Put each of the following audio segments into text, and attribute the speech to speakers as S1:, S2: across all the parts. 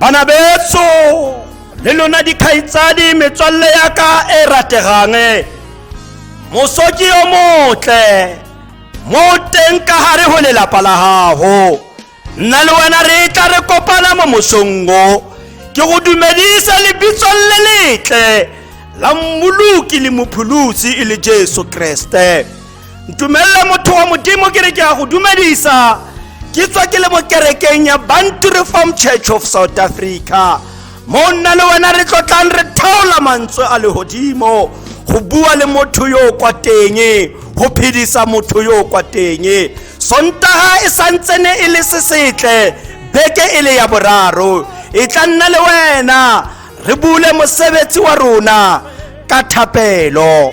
S1: bana betso le lona dikgaitsadi metswalle ya ka e rategang mosoki yo motle mo teng ka gare go lelapa la gago nna le wena re tla re kopana mo mosongo ke go dumedisa lebitsong le letle la mmoloki le mopholosi e le jesu kreste ntumelele motho wa modimo ke re ke ya go dumedisa ke tswa ke le mo kerekeng ya bantu reform church of south africa mo nna le wena re tlotlang re thaola mantswe a legodimo go bua le motho yo o kwa teng go phedisa motho yo o kwa teng sontaga e santsene e le se setle beke e le ya boraro e tla nna le wena re bule mosebetsi wa rona ka thapelo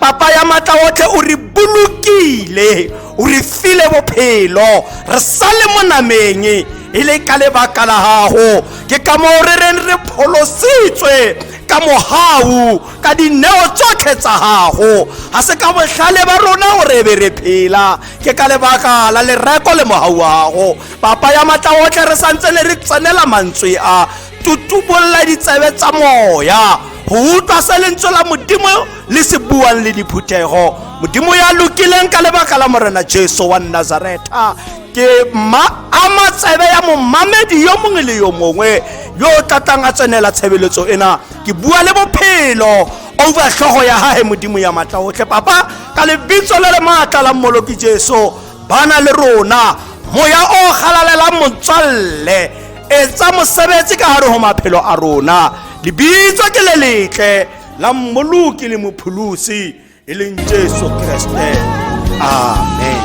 S1: papa ya matla otlhe o re bolokile o re file bophelo re sa le mo nameng e le ka lebaka la gago ke ka moo re reng re pholositswe ka mogau ka dineo tsotlhe tsa gago ga se ka botlhale ba rona o re be re phela ke ka lebaka la lereko le mogau wa gago papa ya matla otlhe re santse ne re tsenela mantswe a tutubolla ditsebe tsa moya go utlwa se lentswe la modimo le se buang le diphuthego modimo ya lokileng ka lebaka la morena jesu wa nazareta ke ma ama tsebe ya momamedi yo mongwe le yo mongwe yo o tlatlang a tsenela tshebeletso ena ke bua le bophelo over tlhogo ya gage modimo ya maatla otlhe papa ka lebitso le le maatla la mmoloki jesu bana le rona moya o galalelang motswalle etsa mosebetsi ka hare ho maphelo a rona lebitso ke le letle la mmoloki le mopholosi e leng jesu kreste amen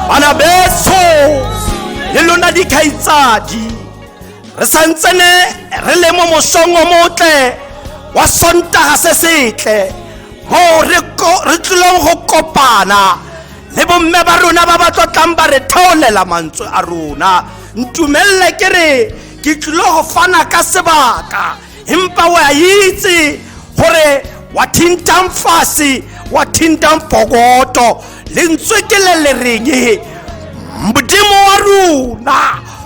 S1: bana betso le lona dikgaitsadi re santsene re le mo mosong o motle wa sontaga se setle moo re ko- re tlileng go kopana le bomme ba rona ba ba tlotlang ba re theolela mantswe a rona ntumelele ke re ke tlilo go fana ka sebaka empa wa itse gore wa thintang fase wa thintang pokoto lentswe ke le le reng modimo wa rona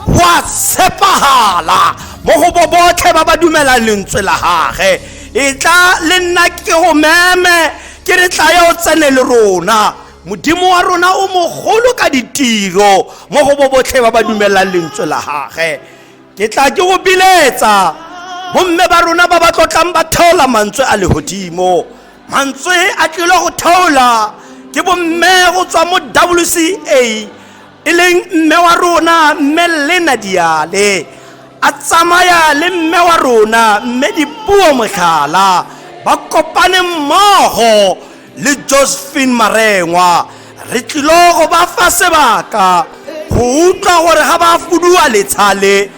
S1: wa tshepagala mo go bo botlhe ba ba dumelang lentswe la gage e tla le nna ke go meme ke re tlaya o tsene le rona modimo wa rona o mogolo ka ditiro mo go bo botlhe ba ba dumelelang lentswe la gage ke tla ke go biletsa bomme ba rona ba ba tlotlang ba theola mantswe a legodimo mantswe a tlile go theola ke bomme go tswa mo wca e leng mme wa rona mme lena diale a tsamaya le mme wa rona mme dipuo motlhala ba kopane mmogo le josephine marengwa re tlilo go ba fa sebaka go utlwa gore ga ba fuduwa letshale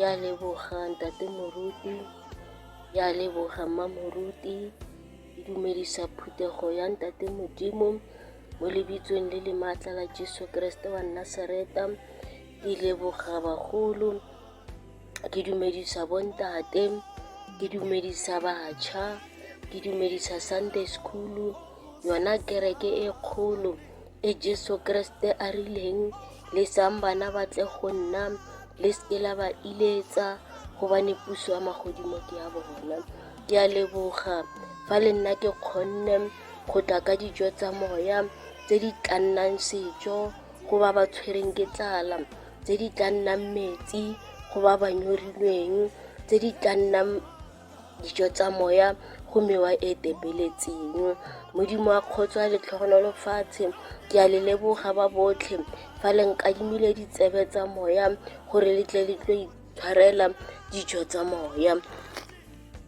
S2: ya leboga ntate moruti, ya leboga mma moruti, ke dumedisa phuthego ya ntate modimo mo lebitsong le le maatla la jesu keresete wa nasareta ke leboga bagolo ke dumedisa bontate ke dumedisa batšha ke dumedisa sunday school yona kereke e kgolo e Jesu Keresete a rileng, Lesang bana ba tle go nna, le seke la ba iletsa, gobane puso ya magodimo ke ya bona. Ke a leboga fa le nna ke kgonne go tla ka dijo tsa moya tse di tla nnang sejo go ba ba tshwereng ke tlala, tse di tla nnang metsi go ba ba nyorilweng, tse di tla nnang. Dijo tsa moya go mewa e tepeletseng. Modimo wa kgotso a letlhogonolo fatshe, ke a le leboga ba botlhe fa le nkadimile ditsebe tsa moya gore le tle le tlo itshwarela dijo tsa moya.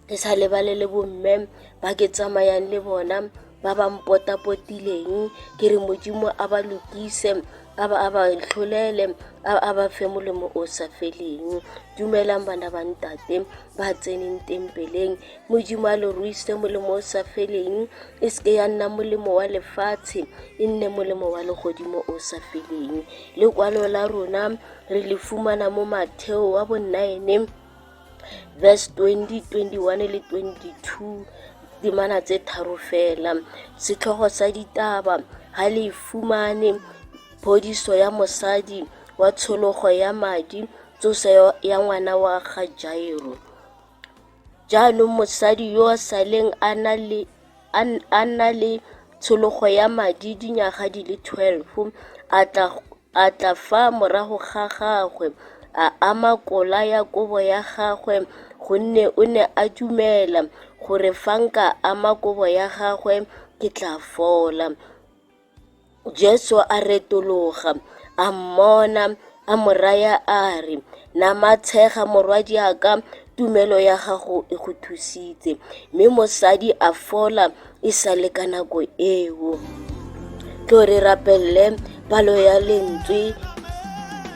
S2: Ke sa lebale le bomme ba ke tsamayang le bona ba ba mpotapotileng ke re modimo a ba lokise a ba a ba tlholele a a ba fe molemo o sa feleng dumelang bana ba ntate ba tseneng tempeleng modimo a lo ruise molemo o sa feleng e seke ya nna molemo wa lefatshe e nne molemo wa legodimo o sa feleng lekwalo la rona re le fumana mo matheo wa bonaene verse 20, 21 le 22 dimana tse tharo fela setlhogo sa ditaba ga le fumane phodiso ya mosadi wa tshologo ya madi tsoso ya ngwana wa ga jairo jaanong mosadi yo a saleng a na le a na le tshologo ya madi dinyaga di le 12 a tla A tla fa morago ga gagwe, a ama kola ya kobo ya gagwe, gonne o ne a dumela gore fa nka ama kobo ya gagwe ke tla fola. Jesu a retologa, a mmona, a mo raya a re, Namatshega morwadiaka, tumelo ya gago e go thusitse. Mme mosadi a fola e sa le ka nako eo. Tlo re rapelele palo ya lentswe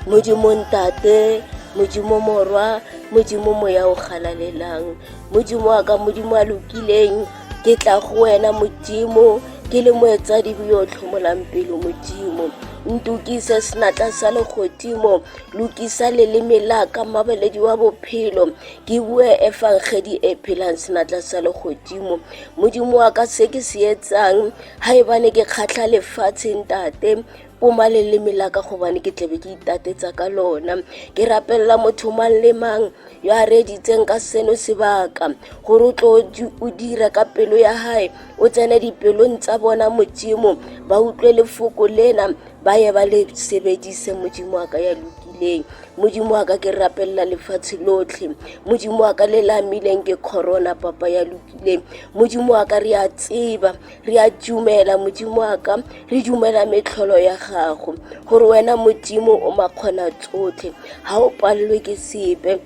S2: modimo ntate modimo morwa modimo moya o galalelang modimo wa ka modimo a lokileng ke tla go wena modimo ke le moetsadibe yo o tlhomolang pelo modimo ntukise senatla sa legodimo lokisa leleme la ka mabeledi wa bophelo ke bue efangedi e phelang senatla sa legodimo modimo wa ka se ke se etsang ga ebane ke kgatlha lefatsheng tate poma leleme la ka gobane ke tlabe ke itatetsa ka lona ke rapelela motho mang le mang yo a reeditseng ka seno sebaka gore o tlo o dira ka pelo ya gae o tsene dipelong tsa bona modimo ba utlwe lefoko lena ba ye ba le sebedise modimo wa ka ya lokileng modimo wa ka ke rapelela lefatshe lotlhe modimo wa ka le la amileng ke corona papa ya lokileng modimo wa ka re a tseba re a dumela modimo wa ka re dumela metlholo ya gago gore wena modimo o makgona tsotlhe ga o palelwe ke sepe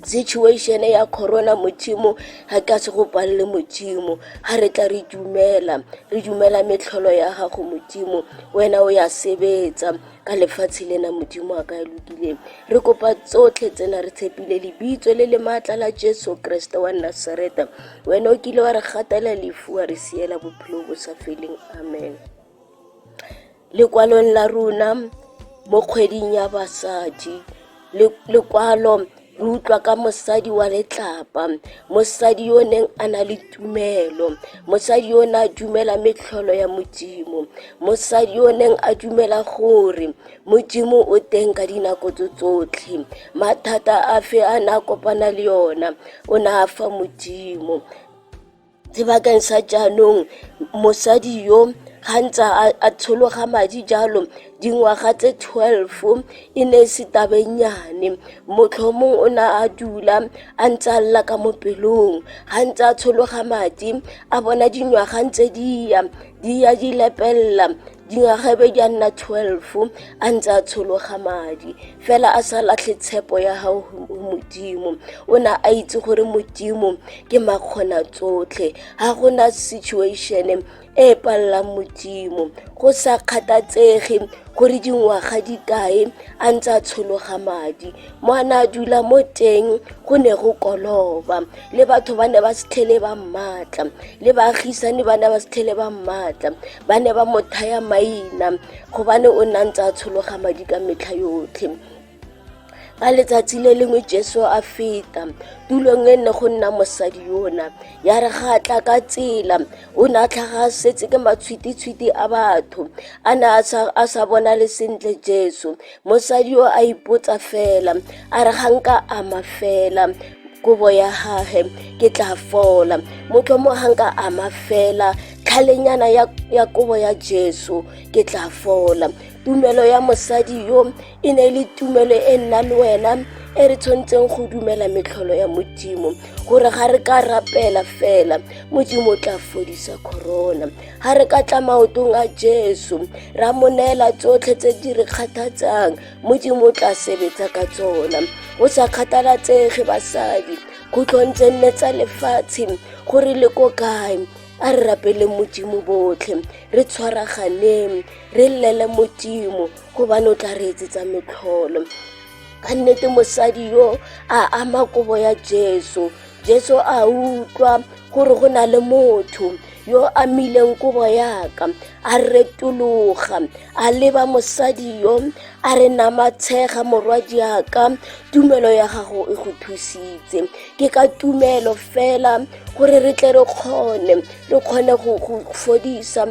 S2: situation ya corona modimo ga ka se go palele modimo ga re tla re dumela re dumela metlholo ya gago modimo wena o ya sebetsa ka lefatshe lena modimo a ka ya lokileng re kopa tsotlhe tsena re tshepile lebitso le le maatla la jesu kreste wa nasareta wena o kile wa re gatela lefu wa re siela bophelo bo sa feleng amen lekwalong la rona mo kgweding ya basadi lekwalo re utlwa ka mosadi wa letlapa mosadi yo o neng a na le tumelo mosadi yo o ne a dumela metlholo ya modimo mosadi yo o neng a dumela gore modimo o teng ka dinako tso tsotlhe mathata a fe a ne a kopana le ona o ne a fa modimo sebakeng sa jaanong mosadi yo ga ntsa a tshologa madi jalo dingwaga tse 12 e ne e se tabenyane motlhomong o ne a dula a ntse a lla ka mo pelong ga ntse a tshologa madi a bona dingwaga ntse di ya di ya di lepelela dingwaga be di a nna 12 a ntse a tshologa madi fela a sa latlhe tshepo ya gago go modimo o ne a itse gore modimo ke makgona tsotlhe ga gona situation e palelang modimo go sa kgathatsege gore dingwaga di kae a ntse a tshologa madi mo a ne a dula mo teng go ne go koloba le batho ba ne ba setlhele ba mmatla le baagisane ba ne ba setlhele ba mmatla ba ne ba mo thaya maina gobane o ne a ntse a tshologa madi ka metlha yotlhe ka letsatsi le lengwe jesu a feta tulong e nne go nna mosadi yona ya re ga tla ka tsela o ne a tlhaga setse ke matshwititshwiti a batho a ne a sa bonale sentle jesu mosadi o a ipotsa fela a re ga nka ama fela kobo ya gage ke tla fola motho mo ga nka ama fela tlhalenyana ya, ya kobo ya jesu ke tla fola tumelo ya mosadi yo e ne e le tumelo e nna le wena e re tshwanetseng go dumela metlholo ya modimo gore ga re ka rapela fela modimo o tla fodisa corona ga re ka tla maotong a jesu ra mo neela tsotlhe tse di re kgathatsang modimo o tla sebetsa ka tsona o sa kgathalatsege basadi khutlhong tse nne tsa lefatshe gore le ko kae a re rapele modimo botlhe re tshwaraganeng re llele modimo gobane o tla re etsetsa metlholo ka nnete mosadi yo a ama kobo ya jesu jesu a utlwa gore go na le motho yo a mileng kobo yaka a retologa a leba mosadi yo a re namatshega morwadi yaka tumelo ya gago e go thusitse ke ka tumelo fela gore re tle re kgone re kgone go fodisa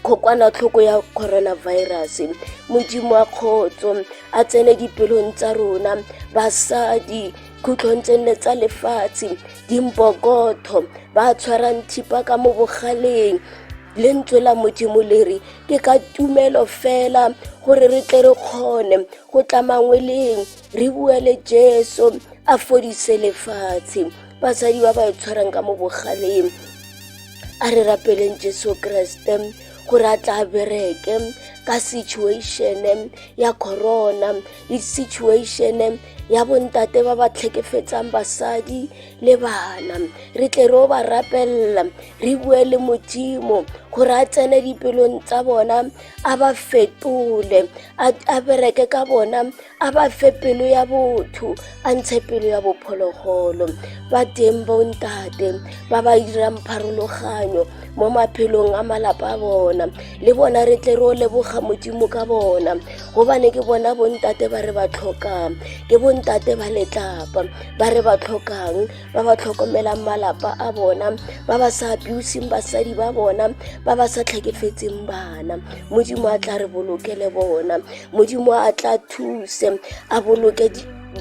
S2: kokwanatlhoko ya coronavirus modimo wa kgotso a tsene dipelong tsa rona basadi khutlhong tse nne tsa lefatshe dimbokotho ba tshwarang thipa ka mo bogaleng lentswe la modimo le re ke ka tumelo fela gore re tle re kgone go tlamangweleng re buele jesu a fodise lefatshe basadi ba ba e tshwarang ka mo bogaleng a re rapeleng jesu kreste gore a tla bereke ka situation ya corona le situation ya bontate ba ba tlhekefetsang basadi le bana re tle re o ba rapelela re bue le modimo gore a tsene dipelong tsa bona a ba fetole a bereke ka bona a ba fe pelo ya botho a ntshe pelo ya bophologolo ba teng bontate ba ba dirang pharologanyo mo maphelong a malapa a bona le bona re tle re o leboga modimo ka bona gobane ke bona bontate ba re ba tlhokang ke bontate ba letlapa ba re ba tlhokang ba ba tlhokomelang malapa a bona ba ba sa abusing basadi ba bona ba ba sa tlhekefetseng bana modimo a tla re bolokele bona modimo a tla thuse a boloke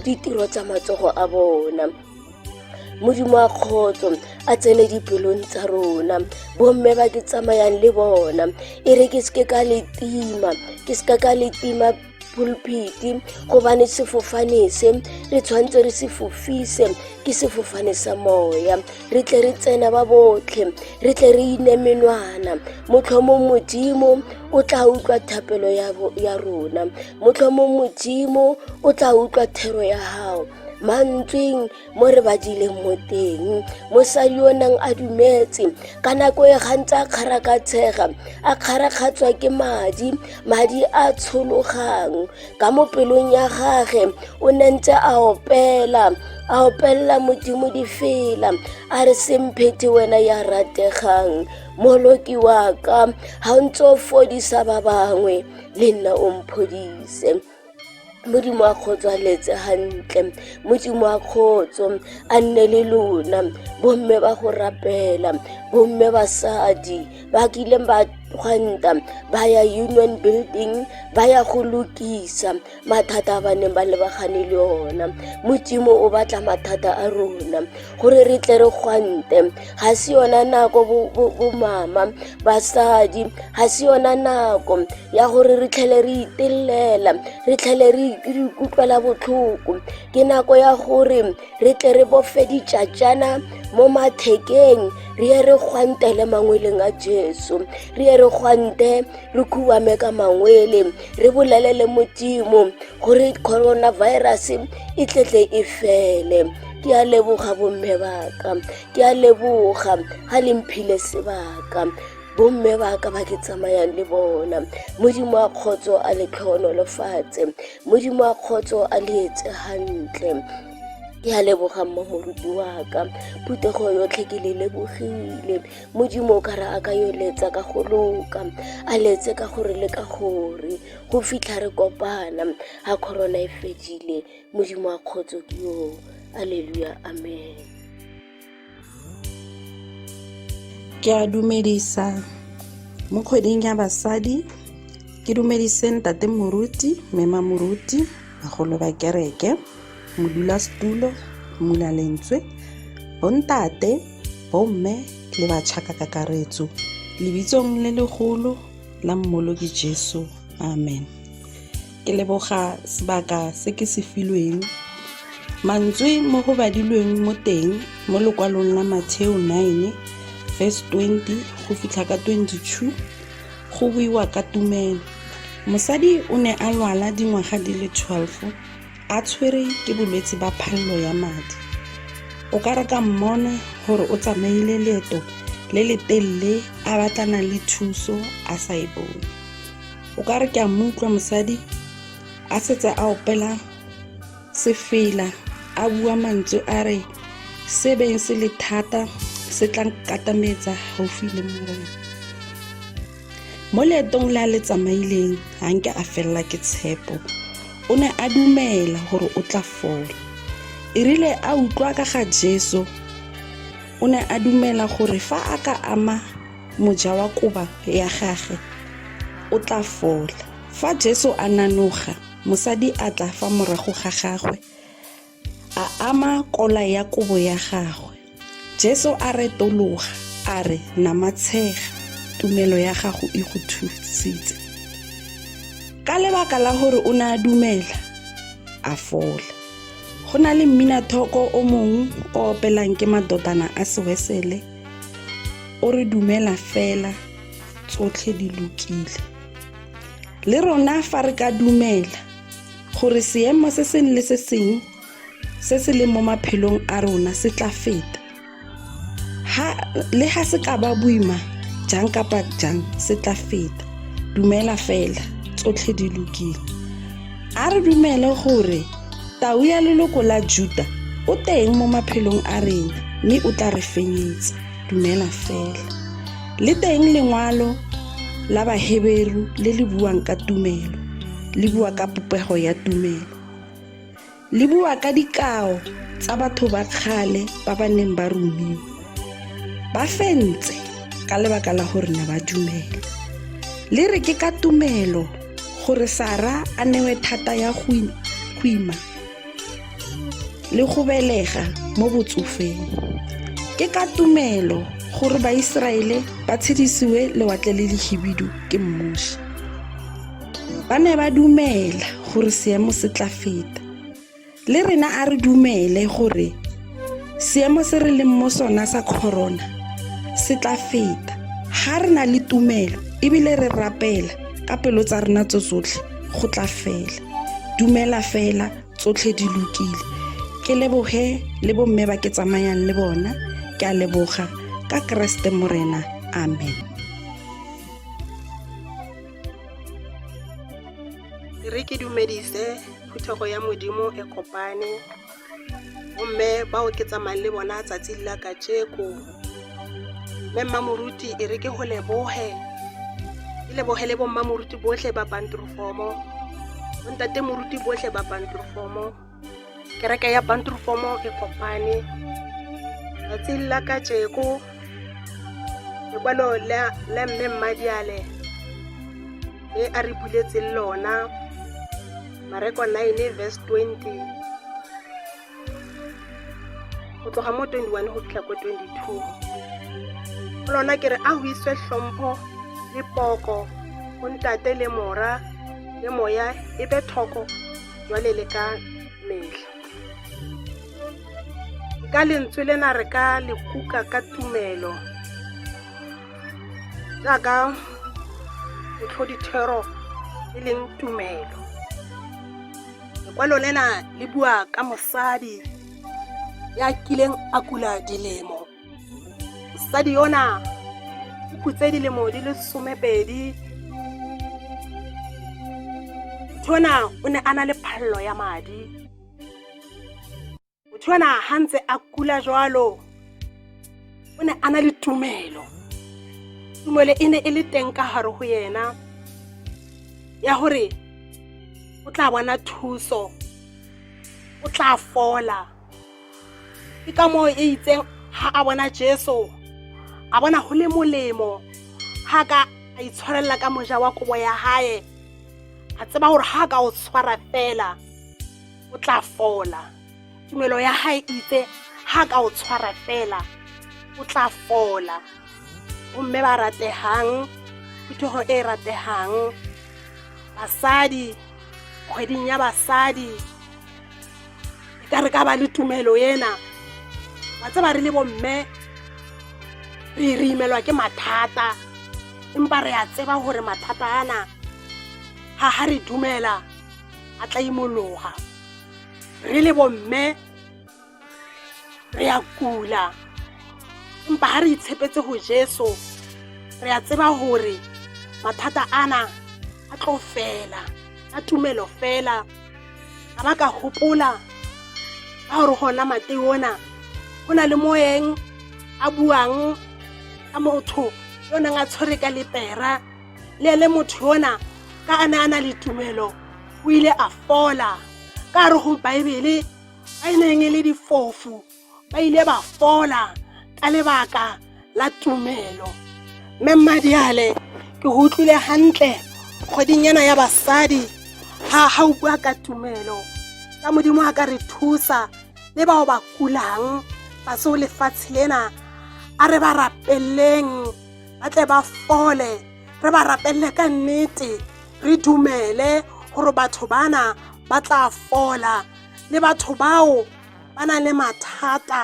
S2: ditiro tsa matsogo a bona modimo a kgotso a tsene dipelong tsa rona bomme ba ke tsamayang le bona e re ke seke ka letima ke seka ka letima pulpiti gobane sefofane se re tshwanetse re se fofise ke sefofane sa moya re tle re tsena ba botlhe re tle re ine menwana motlhomong modimo o tla utlwa thapelo ya rona motlhomong modimo o tla utlwa thero ya gago mantsweng mo re badileng mo teng mosadi o nang a dumetse ka nako e gantsi a kgarakatshega a kgarakgatswa ke madi madi a tshologang ka mo pelong ya gage o ne ntse a opela a opelela modimo difela a re semphethe wena ya rategang moloki wa ka ga o ntse o fodisa ba bangwe le nna o mphodise Modimo a kgotswaletse hantle modimo wa kgotso a nne le lona bomme ba go rapela bomme basadi ba kileng ba gwanta ba ya union building ba ya go lokisa mathata a ba neng ba lebagane le ona modimo o batla mathata a rona gore re tle re gwante ga se yona nako bomama basadi ga se yona nako ya gore re tlhele re itelela re tlhele re ikutlwela botlhoko ke nako ya gore re tle re bofe ditšatšana mo mathekeng re ye re gwante le mangweleng a jesu re ye re gwante re khuame ka mangwele re bolele le modimo gore coronavirus e tletle e fele ke a leboga bomme baka ke a leboga ga le mphile sebaka bomme ba ka ba ke tsamayang le bona modimo a kgotso a letlhono lefatshe modimo a kgotso a leetse gantle ke a leboga mma moruti wa ka phutego yotlhe ke le lebogile modimo o kare a ka yo letsa ka go loka a letse ka gore le ka gore go fitlha re kopana ga corona e fedile modimo a kgotso ke yo alleluya amen
S3: ke a dumedisa mo kgweding ya basadi ke dumedise ntate moruti mema moruti bagolo ba kereke modulasetulo mmula lentswe bontate bomme le batšhaka kakaretso lebitsong le legolo la mmoloki jesu amen ke leboga sebaka se ke se filweng mantswe mo go badilweng mo teng mo lokwalong la matheo 9 verse 20 go fitlha ka 22 go buiwa ka tumelo mosadi o ne a lwala dingwaga di le 12 a tshwere ke bolwetse ba phallo ya madi o ka re ka mmona gore o tsamaile leeto le le telele a batlana le thuso a sa e bone o ka re ke a moutlwa mosadi a setse a opela sefela a bua mantswe a re se beng se le thata se tla nkatametsa gaufi le morena mo leetong le a le tsamaileng ga nke a felela ke tshepo o ne a dumela gore o tla fola e rile a utlwa ka ga jesu o ne a dumela gore fa a ka ama Moja wa koba ya gage o tla fola. Fa Jesu a nanoga, mosadi a tla fa morago ga gagwe a ama kola ya kobo ya gagwe. Jesu a retologa a re, Namatshega, tumelo ya gago e go thusitse. Ka lebaka la gore o ne a dumela, a fola. Go na le mminathooko o mongwe o opelang ke madotana a sewesele. o re dumela fela tsotlhe di lokile le rona fa re ka dumela gore seemo se sengwe le se sengwe se se leng mo maphelong a rona se tla feta le ga se ka ba boima jang kapa jang se tla feta dumela fela tsotlhe di lokile A re dumele gore tau ya leloko la Juta o teng mo maphelong a rena mme o tla re fenyetsa. Dumela fela. Le teng lengwalo la Baheberu le le buang ka tumelo, le bua ka popego ya tumelo. Le bua ka dikao tsa batho ba kgale ba ba neng ba rumiwa. Ba fentse ka lebaka la gore ne ba dumela. Le re ke ka tumelo gore sara a newe thata ya go ima le go belega mo botsofeng ke ka tumelo gore baiseraele ba tshedisiwe lewatle le lehibidu ke mmuši ba ne ba dumela gore seemo se tla feta Le rena a re dumele gore seemo se re leng mo sona sa corona se tla feta. Ga re na le tumelo ebile re rapela ka pelo tsa rena tso tsotlhe go tla fela. Dumela fela tsotlhe di lokile. Ke leboge le bomme ba ke tsamayang le bona. Ke a leboga ka Keresete Morena. Amen. Re ke
S4: dumedise phuthego ya modimo e kopane gomme ba oketsa mang le bona tsatsi la ka tšeko mme mmamoruti e re ke go leboge ke leboge le bommamoruti botlhe ba pantrofomo bontate moruti botlhe ba pantrofomo kereke ya pantrofomo e kopane tsatsi la ka tšeko lekwalo la mme mmadiale e a re buletseng lona mareko 9 verse 20 go tloga mo 21 go fitlha ko 22 lona ke re a go iswe tlhompho le poko go ntate le mora le moya e be thoko jwale le ka metlha ka lentswe lena re ka le kuka ka tumelo jaaka botlhodithero e leng tumelo lekwalo lena le bua ka mosadi ya kileng a kula dilemo mosadi yona o kutse dilemo di le somepedi tona o ne a na le phalelo ya madi motho ana ha ntse a kula jwalo o ne a na le tumelo tumelo e ne e le teng ka gare go yena ya gore o tla bona thuso o tla fola ke ka moo e itseng ga a bona jesu a bona go le molemo ga ka a itshwarelela ka moja wa kobo ya gae a tseba gore ga a ka o tshwara fela o tla fola tumelo ya gae itse ga ka o tshwara fela o tla fola gomme ba rategang phuthego e e rategang basadi kgweding ya basadi e ka re ka ba le tumelo ena ba tse ba re le bomme re re imelwa ke mathata empa re a tseba gore mathata ana ga ga re dumela a tla imologa re le bomme re ya kula empa ga re itshepetse go jesu re ya tseba gore mathata ana a tlo fela a tumelo fela a ba ka gopola ka gore gona mate ona go na le moeng a buang ka motho yo neng a tshwere ka lepera le ene motho yona ka a ne a na le tumelo o ile a fola ka re go baebele ba e neng e le difofu ba ile ba fola ka lebaka la tumelo mme mmadiale ke go utlwile gantle kgwedinyana ya basadi ga ga o bua ka tumelo ka modimo a ka re thusa le bao ba kulang ba seo lefatshe lena a re ba rapeleng ba tle ba fole re ba rapelele ka nnete re dumele gore batho bana ba tla fola le batho bao ba na le mathata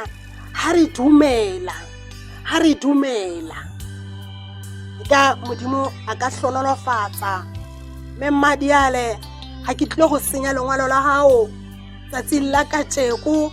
S4: ha re dumela ha re dumela ka modimo a ka tlhonolofatsa mme mmadiale ga ke tlile go senya lengwalo la gago tsatsing la kajeko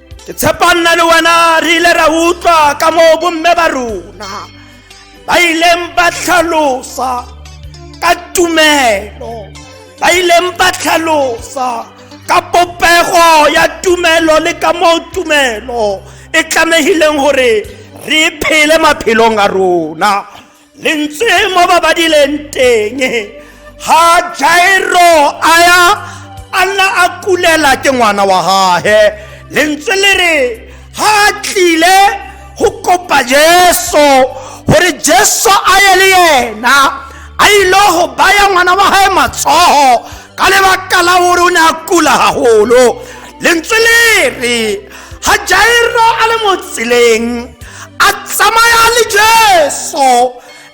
S1: ke tshepa nna le wena re ile ra utlwa ka moo bomme ba rona ba ileng ba tlhalosa ka tumelo ba ileng ba tlhalosa ka popego ya tumelo le ka moo tumelo e tlamehileng gore re phele maphelong a rona le ntse mo ba ba dileng teng ga jairo a ya a nna a kulela ke ngwana wa gage le ntse le re ga a tlile go kopa jesu gore jesu a ye le yena a ile go baya ngwana wa gage matsogo ka lebaka la gore o ne a kula gagolo lentswe le re ga jairo a le mo tseleng a tsamaya le jesu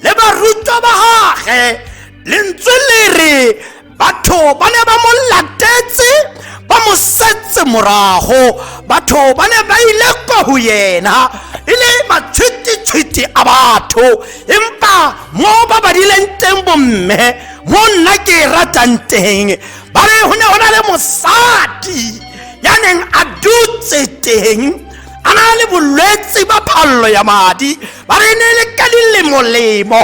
S1: le barutwa ba gage lentswe le re batho ba ne ba mo latetse ba mo setse morago batho ba ne ba ile kwa go yena e le matshwititshwiti a batho empa mo ba badileng teng bomme mo nna ke e ratang teng ba re go ne go na le mosadi ya neng a dutse teng a na le bolwetse ba phallo ya madi ba re ne le ka dilemolemo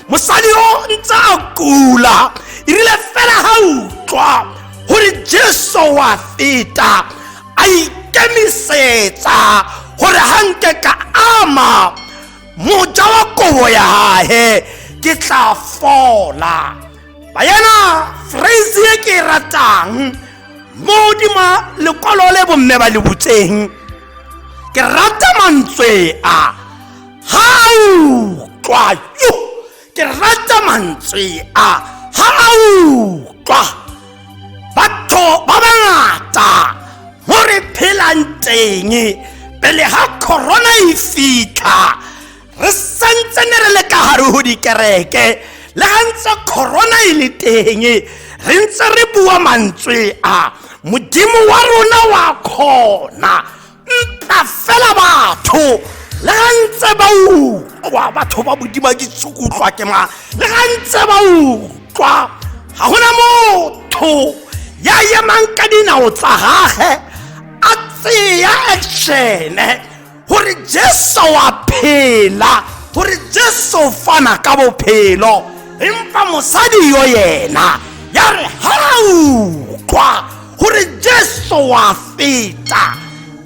S1: mosadi o ntse a kula erile fela ga utlwa gore jesu wa feta a ikemisetsa gore ga nke ka ama moja wa kobo ya gae ke tla fola bayena phrase e ke e ratang mo godima lekwalo le bomme ba le butseng ke rata mantswe a ga utlwa yo ke rata mantswe a ga a utlwa batho ba bangata mo re phelang teng pele ga corona e fitlha re santse ne re le ka gare go dikereke le ga ntse corona e le teng re ntse re bua mantswe a modimo wa rona wa kgona nta fela batho le ga ntse ba utlwa batho ba bodima ke tsukutlwa ke ma le ga ntse ba utlwa ga gona motho ya emang ka dinao tsa gage a tseya actione gore jesu wa phela gore jesu fana ka bophelo empa mosadi yo yena ya re ga utlwa gore jesu wa feta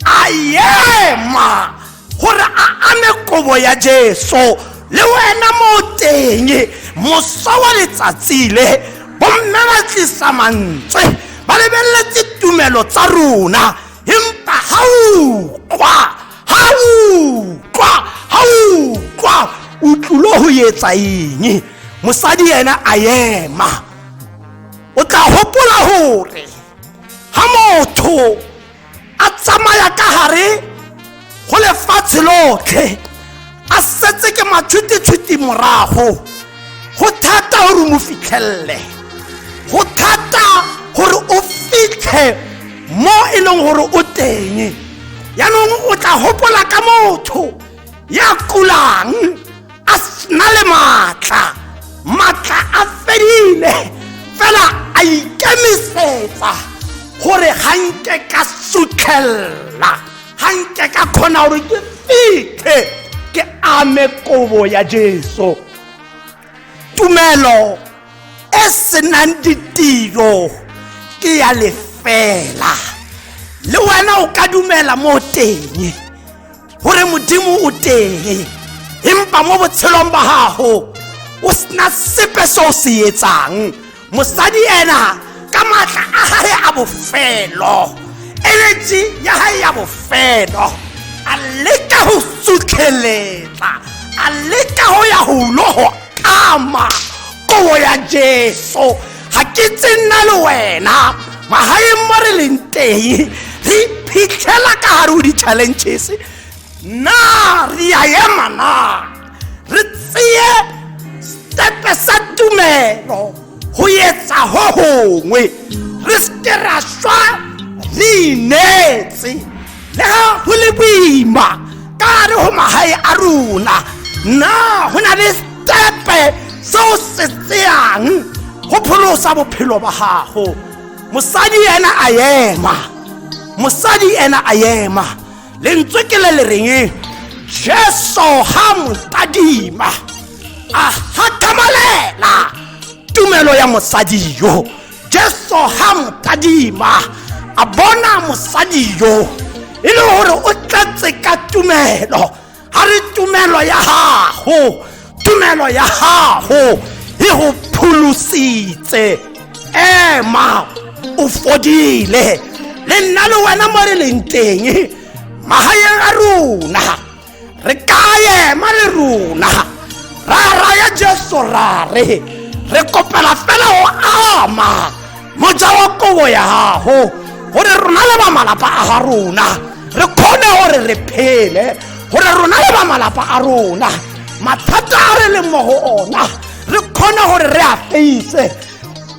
S1: a ema gore a ame kobo ya jesu le wena mo teng mosa wa letsatsi le bomme ba tlisa mantswe ba lebeletse tumelo tsa rona empa ga ukwa ga ukwa ga ukwa o tlulo go etsa eng mosadi ena a ema o tla hopola hore ha motho a tsamaya ka hare go lefatshe lotlhe a setse ke matshwititshwiti morago go thata gore mo fitlhelele go thata gore o fitlhe mo e leng gore o teng yaanong o tla gopola ka motho ya kulang a sena le maatla maatla a fedile fela a ikemisetsa gore ga nke ka sutlhelela ga nke ka kgona gore ke fitlhe ke ame kobo ya jesu tumelo e senang ditiro ke ya lefela le wena o ka dumela mo teng gore modimo o teng empa mo botshelong ba gago o sena sepe se o se etsang mosadi ena ka maatla a gae a bofelo energy ya gae ya bofelo a leka go sutlheletsa a leka go ya golo go ama kobo ya jesu ga ke tse nna le wena magaeng mo re leng teng re iphitlhela ka gare o di-challenges na re a ema na re tseye stepe sa tumelo go etsa go gongwe re seke ra swa re ineetse le ga go le boima ka re go magae a rona na go na le stepe se o se tseyang go pholosa bophelo ba gago mosadi ena a ema mosadi ena a ema lentswe ke le le reng jesu ga motadima a gakamalela tumelo ya mosadi yo jesu ga mokadima a bona mosadi yo e le gore o tlatse ka tumelo ga re tumelo ya gago tumelo ya gago e go pholositse ema o fodile le nna le wena mo re leng teng magaeng a rona re ka ema le rona ra raya jesu ra re re kopela fela go ama moja wa kobo ya gago gore rona le bamalapa a ga rona re kgone gore re phele gore rona le bamalapa a rona mathata a re leng mo go ona re kgone gore re a feise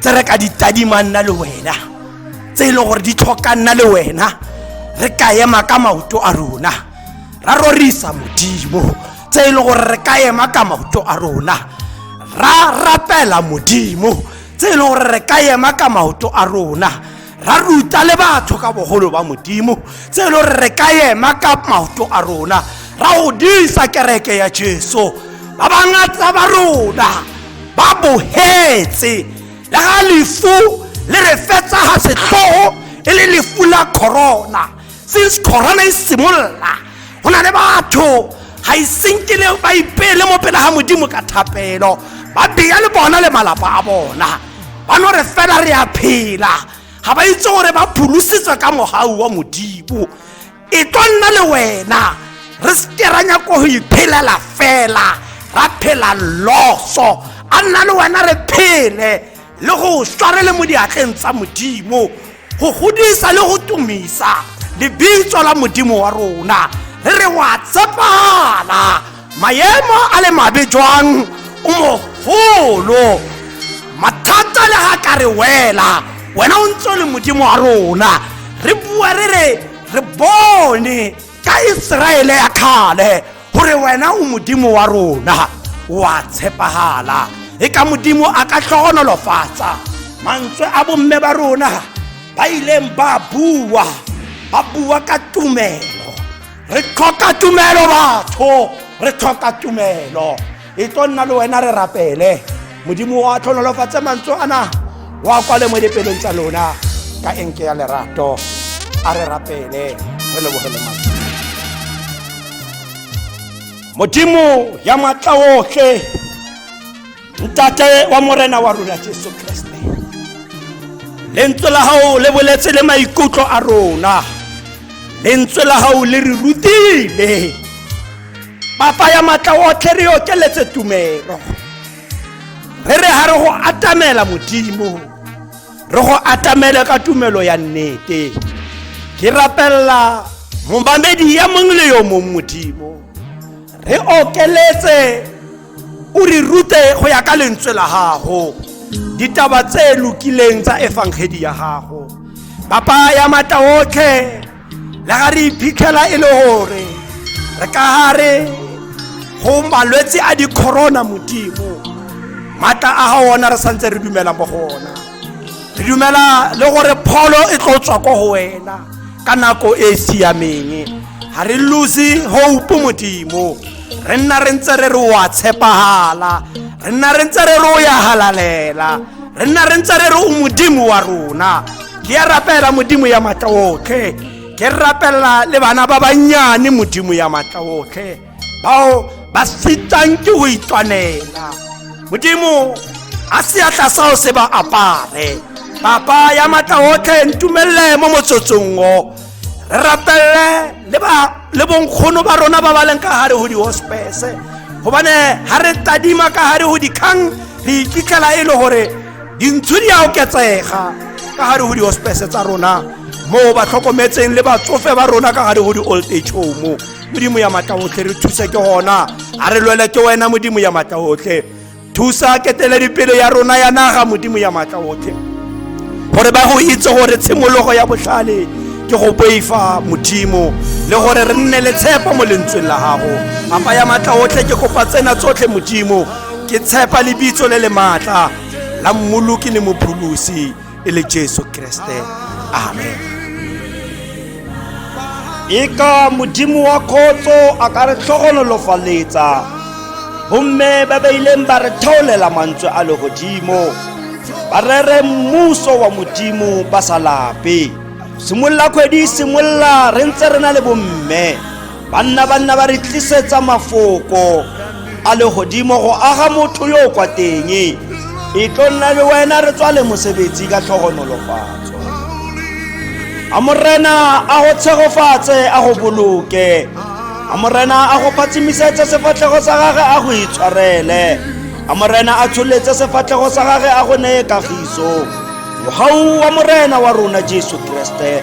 S1: tse re ka di tadimang nna le wena tse e leng gore di tlhoka nna le wena re ka ema ka maoto a rona ra rorisa modimo tse e leng gore re ka ema ka maoto a rona ra rapela modimo tse e leng gore re ka ema ka maoto a rona ra ruta le batho ka bogolo ba modimo tse e le gore re ka ema ka maoto a rona ra go disa kereke ya jesu ba bangatsa ba rona ba bogetse le ga lefu le re fetsa ga setlhogo e le lefu la corona since corona e simolola go na le batho ga e senkele ba ipeele mo pele ga modimo ka thapelo ba beya le bona le malapa a bona ba no re fela re a phela ga ba itse gore ba pholositswe ka mogau wa modimo e tlo nna le wena re seke ra nyako go iphelela fela ra phela loso a nna le wena re phele le go sware le mo diatleng tsa modimo go godisa le go tumisa lebitso la modimo wa rona re re wa tshepala maemo a le mabe jwang o mogolo mathata le ga ka re wela wena o ntse le modimo wa rona re bua re re re bone ka iseraele ya kgale gore wena o modimo wa rona wa tshepagala e ka modimo a ka tlhogonolofatsa mantswe a bomme ba rona ba ileng ba bua ba bua ka tumelo re tlhoka tumelo batho re tlhoka tumelo e tlo nna le wena re rapele modimo wa tlhonolofatse mantswe ana wa kwale mo dipelong tsa lona ka enke ya lerato a re rapele re lebogele mantswe modimo ya matla otlhe ntate wa morena wa rona jesu kreste lentswe la gago le boletse le maikutlo a rona lentswe la gago le re rutile ba faya maatla otlhe re okeletse tumelo re re ga re go atamela modimo re go atamele ka tumelo ya nnete ke rapelela momamedi ya mongwe le yo mongwe modimo re okeletse o re rute go ya ka lentswe la gago ditaba tse lokileng tsa efangedi ya gago papa ya mata otlhe le ga re iphitlhela e le gore re ka gare go malwetse a dicorona modimo maatla a ga ona re santse re dumela mo go ona re dumela le gore pholo e tlo tswa ko go wena ka nako e e siameng ga re lose hope modimo re nna re ntse re re wa tshepagala re nna re ntse re re o ya halalela re nna re ntse re re o modimo wa rona ke a rapela modimo ya maatla otlhe ke rapela le bana ba bannyane modimo ya maatla otlhe bao ba sitang ke go itwanela modimo a seatla sao se ba apare papa ya maatla otlhe ntumelele mo motsotsong o re rapelele le ba le bonkgono ba rona ba ba leng ka gare go di-hospese gobane ga re tadima ka gare go dikgang re ikitlela e le gore dintsho di a oketsega ka gare go di-hospese tsa rona moo ba tlhokometseng le batsofe ba rona ka gare go di-old age home modimo ya matla otlhe re thuse ke gona a re lwele ke wena modimo ya matla otlhe thusa keteledipele ya rona ya naga modimo ya matla otlhe gore ba go itse gore tshimologo ya botlhale ke go boifa modimo le gore re nne le tshepo mo lentsweng la gago apa ya matla otlhe ke kopa tsena tsotlhe modimo ke tshepa lebitso le le maatla la mmoloki le mopholosi e le jesu kreste amen e ka modimo wa kgotso a ka re tlhogonolofaletsa bomme ba ba ileng ba re theolela mantswe a legodimo ba rere mmuso wa modimo ba sa lape simolola kgwedi simolola re ntse re na le bomme banna banna ba re tlisetsa mafoko a legodimo go aga motho yo o kwa teng e tlo nna le wena re tswale mosebetsi ka tlhogonolofatso a morena a go tshegofatse a go boloke a morena a go phatsimisetse sefatlhego sa gage a go itshwarele a morena a tsholetse sefatlhego sa gage a go neye kagiso mogau wa morena wa rona jesu kriste